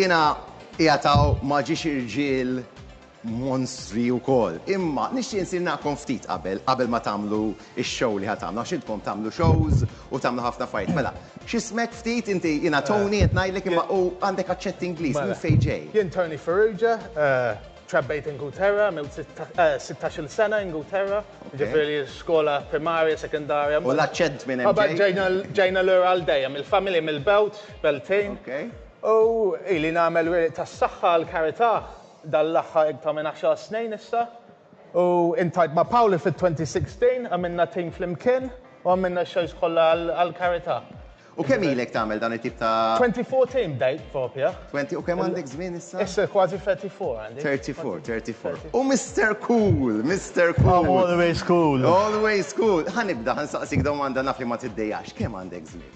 Jiena qiegħed hawn ma' ġiex irġiel monstri wkoll, imma nixtieq insilnaqkom ftit qabel, qabel ma tagħmlu x-show li ħa tagħmlu, għax intkom tagħmlu shows u tagħmlu ħafna affarijiet. Mela, x'ismek ftit inti? Jiena Tony qed ngħidlek imma u għandek aċċett Ingliż, minn fejn ġej? Jien Tony Farrugia, trabbejt Inghilterra, għamilt sittax-il sena Inghilterra, jiġifieri skola primarja, sekondarja. U l-aċċent minn hemm ġej? Qabad ġejna lura għal dejjem, il-familja mill-Belt, Beltin. U ili nagħmel wiriq tas-saħħa għall-karità dan l-aħħar iktar minn għaxar snin issa. U intajt ma' Pawli fit-2016, għamilna tim flimkien u għamilna x-shows kollha għall-karità. U kemm ilek tagħmel dan it-tip ta'. 2014 bdejt proprja. Twenty, u kemm għandek żmien issa? Issa kważi 34 għandi. Thirty four, thirty four. U Mister Cool, Mister Cool. I'm always cool. Always cool. Ħa nibda, ħa nsaqsik domanda naf li ma tiddejaqx, kemm għandek żmien?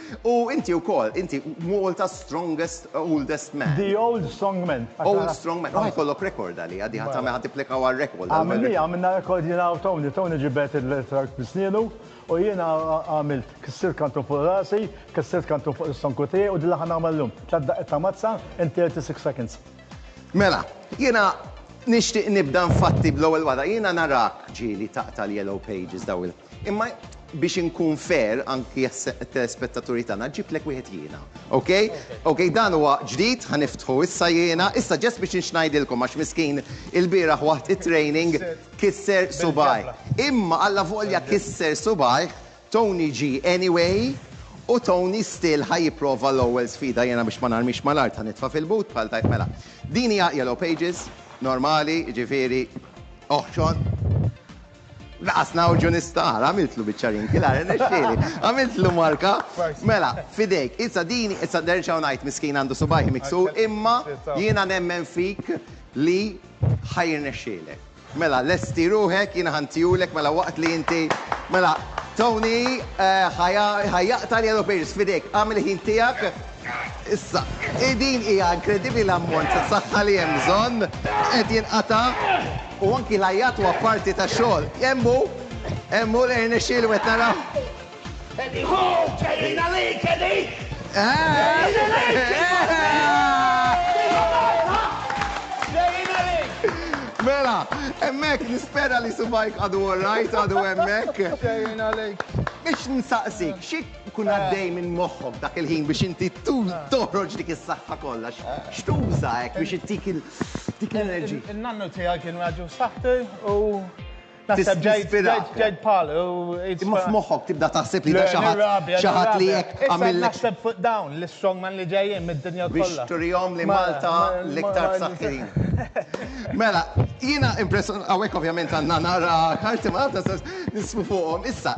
U inti wkoll, inti Malta's strongest oldest man. The old strong man. Old strong man. U ħajkollok record għaliha, di ħa tagħmel ħa tipplika għal record. Għamilni, għamilna record jiena u Tony. Tony ġibed il-trakt bi snienu u jiena għamilt kissirt kantun fuq rasi, kissirt kantun fuq l-istonku tiegħi u din li ħa nagħmel illum. Tliet daqqiet ta' mazza in 36 seconds. Mela, jiena nixtieq nibda nfatti bl-ewwel waħda. Jiena narak ġieli taqta' l-yellow pages daw il. Imma biex inkun fair anki għas-telespettaturi tagħna, ġibtlek wieħed jiena. Okej? Okej, dan huwa ġdid, ħa niftħu issa jiena. Issa ġest biex in x'ngħidilkom għax miskin ilbieraħ waħt it-training kisser subgħi. Imma allavolja kisser subgħih, Tony ġie anyway u Tony still ħa jipprova l-ewwel sfida. Jiena biex ma narmix mal-art ħa nitfa' fil-but bħal tajb mela. Din hija Yellow Pages, normali, jiġifieri oħxon. Laqas ngħawġu nistgħar, għamiltlu biċċa rinkila, rnexxieli. Għamiltlu marka. Mela, f'idejk. Issa din, issa nerġgħu ngħid miskin għandu subgħajh miksur, imma jiena nemmen fik li ħa jirnexxielek. Mela, lesti ruħek, jiena ħa ntihulek mela waqt li inti, mela, Tony ħa jaqta' l-yellow pages f'idejk. Agħmel il-ħin tiegħek. Issa, din hija inkredibbli l-ammont ta' saħħa li hemm bżonn, qed jinqata' u anki l-għajjat huwa parti tax-xogħol. Hemm hu, hemm hu li rnexxielu qed naraw. Eddie Hu, ġejjin għalik, Eddie! Mela, hemmhekk nispera li subajk għadu all right, għadu hemmhekk. Ġejjin għalik. Biex nsaqsik, xi Ikun għaddej minn moħħok dak il-ħin biex inti toħroġ dik is-saħħa kollha. X'tuża hekk biex ittik dik l-enerġija? In-nannu tiegħi kien raġel saħħtu u Naħseb ġejt ġejt pal u Imma f'moħħok tibda taħseb li da xi ħadd xi ħadd li hekk għamillek. Naħseb fuq dawn l-strongman li ġejjin mid-dinja kollha. Biex turihom li Malta l-iktar b'saħħin. Mela, jiena impression hawnhekk ovvjament għandna nara karti ma' nismu fuqhom. Issa,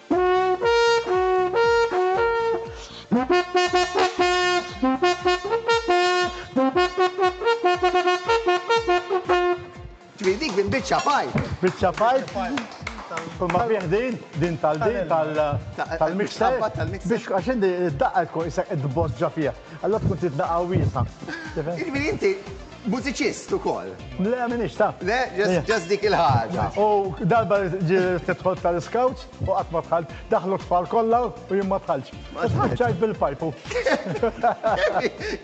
Trid dik minn biċċa pipe. Biċċa pipe kull ma fih din, din tal din tal tal-mixer biex għax inti d-daqqa tkun qisek qed tboġġa fiha. Allura tkun trid daqqa wiesgħa. Jiġifieri inti Mużiċist ukoll. Le m'iniex ta'. Le, just just dik il-ħaġa. U darba ġiet tidħol tal-iskawts u qatt ma dħalt. Daħlu t-tfal kollha u jien ma dħaltx. U spiċċajt bil-pajpu.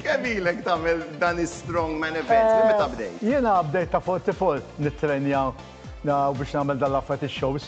Kemm ilek tagħmel dan is-strongman events? Minn meta bdejt? Jiena bdejt ta' 44 nittrenja biex nagħmel dan l-affarijiet ix-shows.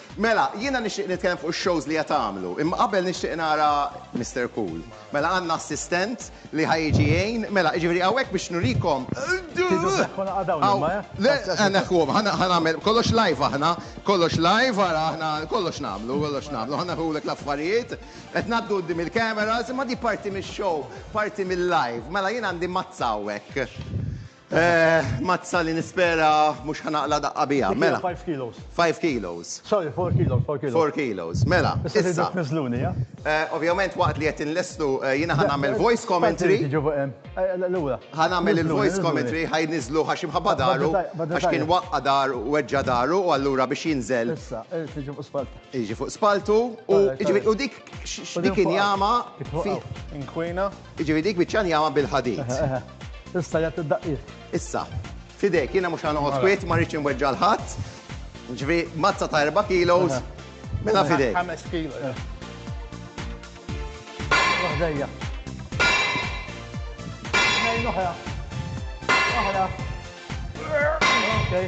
Mela, jiena nixtieq nitkellem fuq ix-shows li qed tagħmlu, imma qabel nixtieq nara Mister Cool. Mela għandna assistent li ħa jiġi jgħin, mela, jiġifieri hawnhekk biex nurikom, Tridu sseħħu laqgħa dawn imma, eh? Le, ħa neħħuhom, ħa nagħmel, kollox live aħna, kollox live, ara aħna kollox nagħmlu, kollox nagħmlu, ħa neħħulek l-affarijiet, qed ngħaddu quddiem il-cameras, imma din parti mix-show, parti mil-live. Mela jien għandi mazza hawnhekk. Eh, mazza li nispera mhux ħa naqla' daqqa biha. Mela. 5 kilos. 5 kilos. Sorry, 4 kilos, 4 kilos. 4 kilos. Mela. Issa tridu tniżluni, ja? Eh, ovvjament waqt li qed inlestu eh, jiena ħa nagħmel voice commentary. Eh, lura. Ħa nagħmel il-voice commentary ħaj niżlu ħax imħabba daru għax kien waqqa dar u weġġa daru u allura biex jinżel. Issa, tiġi fuq spaltu. Iġi fuq spaltu u dik dik injama. Inkwina. Jiġifieri dik biċċa njama bil-ħadid. Eħe, eħe. Issa jgħid id-daqqiet. Issa, f'idejk, jiena mhux ħa noqgħod kwiet, ma rridx inweġġa' 'l ħadd. Jiġifieri mazza ta' erba' kilos, mela f'idejk. Eħe, ħames kilos. Hu ħdejja. Tnejn oħra. Oħra. Okej.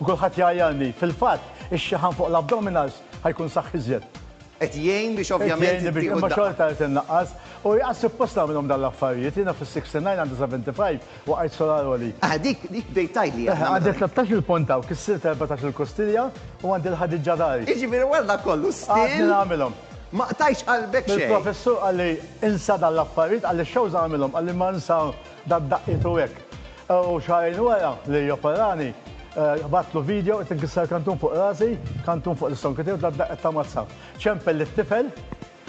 U kulħadd jgħajjarni. Fil-fatt, ix-xaħam fuq l-abdominals ħa jkun saħħ iżjed. Qed jgħin biex ovvjament ittieħu d-daqqa. Imma xorta qed innaqqas. U qas suppost nagħmilhom dawn l-affarijiet. Jiena fis-69 għandi 75 waqajt solaroli. Aha, dik, dik bdejt tgħidli aħna. Aha, għandi tlettax-il punt hawn, kissirt erbatax-il kustilja u għandi l-ħadiġġa dar. Jiġifieri wara dak kollu still. Għadni nagħmilhom. Ma qtajtx qalbek xejn. Il-professur qalli insa dawn l-affarijiet, qalli x-shows agħmilhom, qalli ma nsa dad-daqqiet u hekk. U xahrejn wara li operani, battlu vidjo qed inkisser kantun fuq rasi, kantun fuq l-istonki tiegħu bla daqqa ta' mazza. Ċempel lit-tifel,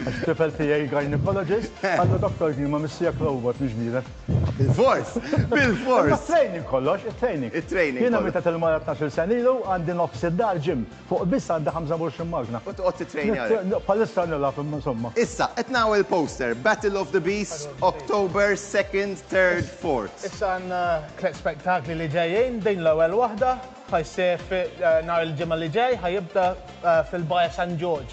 għax it-tifel tiegħi gynaecologist, qallu, Doktor, jien ma missijek robot mhix bniedem. Bilfors! Bilfors! Imma t-training kollox, it-training. It-training kollox. Jiena mietet il-mara tnax-il sena ilu, għandi nofs id-dar gym. Fuq biss għandi 25 magna. U toqgħod tittrejnja għalhekk. Le, bħalissa nilgħab imma insomma. Issa, qed nagħu il-poster, Battle of the Beasts, October 2nd, 3rd, 4th. Issa għandna tliet spektakli li ġejjin, din l-ewwel waħda, ħa ssir fi nhar il-Ġimgħa li ġej, ħa jibda fil-Baja San Ġorġ.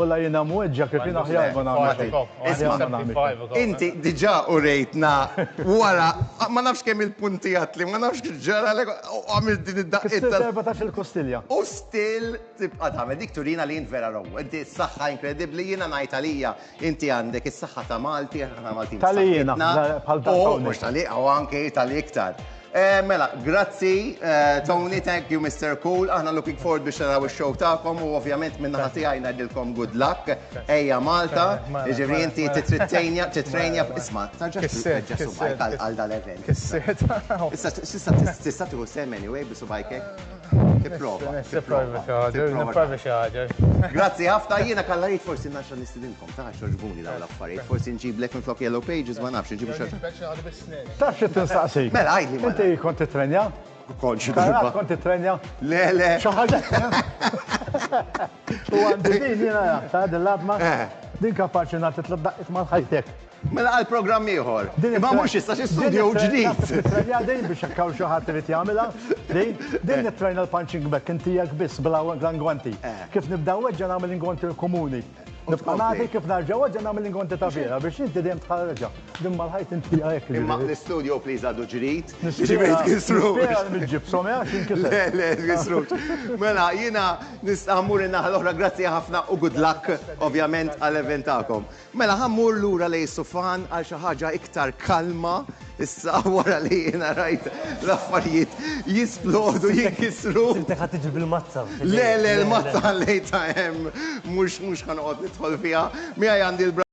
U la jiena mweġġa' kif jien aħjar ma nagħmel. Inti diġà urejtna wara ma nafx kemm il-punti għad li ma nafx x'ġaralek u għamilt din id-daqqiet tal-. Kisser il-kostilja. U still tibqa' tagħmel. Dik turina li int vera rewwa. Inti s-saħħa inkredibbli jiena ngħid għalija inti għandek is-saħħa ta' Malti, aħna Maltin b'saħħitna. Ta' li jiena? Bħal daqqa u mhux ta' li u anki ta' li iktar. Mela, grazzi Tony, thank you Mr. Cool. Aħna looking forward biex naraw ix-show tagħkom u ovvjament minn naħa tiegħi ngħidilkom good luck. Ejja Malta, jiġifieri inti titrittejnja, titrejnja isma' tarġax tisser subajk għal dal-event. Issa tista' tista' tieħu sehem anyway bi subajk hekk? Tipprova. Tipprova xi ħaġa, nipprova xi ħaġa. Grazzi ħafna, jiena kallarit forsi naxa nistidinkom ta' għax għoġbuni dawn l-affarijiet. Forsi nġiblek minflok Yellow Pages ma nafx, nġibu xi ħaġa. Taf xi tinsaqsik? Mela, għidli ma. Inti kont titrenja? Kont xi darba. Karate kont titrenja? Le, le. Xi ħaġa. U għandi din jiena ta' din l-adma. Eh. Din kapaċi nagħti tliet daqqiet mal ħajtek. Mela għal programm ieħor. Ma mhux issa xi studio ġdid. Titrenja din biex hekk hawn xi ħadd irid jagħmilha. Din din nittrejna l-punching bag inti jekk biss bla gwanti. Eh. Kif nibda weġġa' nagħmel ingwanti l-komuni. Nibqa' nagħti kif narġa' waġġa' nagħmel l-ingonti ta' vera biex inti dejjem tħarġha. Din mal-ħajt intiha hekk. Imma l-istudio please għadu ġrid. Jiġifieri tkissrux. Nispera li miġġibshom, għax jinkisru. Le, le, tkissrux. Mela, jiena nista' mmur in-naħa l-oħra, grazzi ħafna u good luck ovvjament għall-event tagħkom. Mela, ħa mmur lura lejn is-sufan għal xi ħaġa iktar kalma. Issa wara li jiena rajt l-affarijiet jisplodu, jinkisru. Siltek ħa tiġi bil-mazza. Le, le, l-mazza ħallejtha hemm, mhux mhux ħa noqgħod nidħol fiha. Miegħi għandi l-.